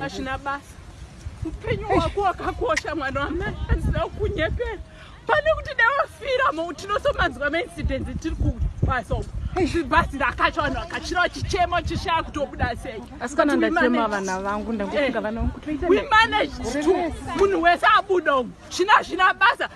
hazvina basa upenyu wako wakakosha mwana wamai handisina kukunyepera pane kuti dawafira mo tinosomanzwa maincidence tiri kubasa uko zibhazi rakacho vanhu vakachira vachichema vachishaya kutobuda sei asi kana ndachema vana vangu ndangofunga eh. vana vangu kutoita we managed to munhu wese abuda umu zvina zvina basa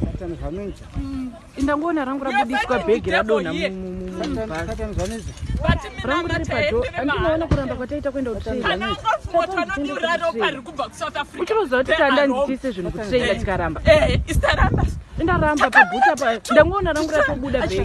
Satan zvanoita. Mm. Inda ngoona rangu rabudiswa bag radona rangu riri pado andinoona kuramba kwataita kuenda kutraiuchiroziva kuti tanda nditiise zvinhu kutraila tikaramba eh, indaramba pabuta pa ndangoona rangu ratobuda bag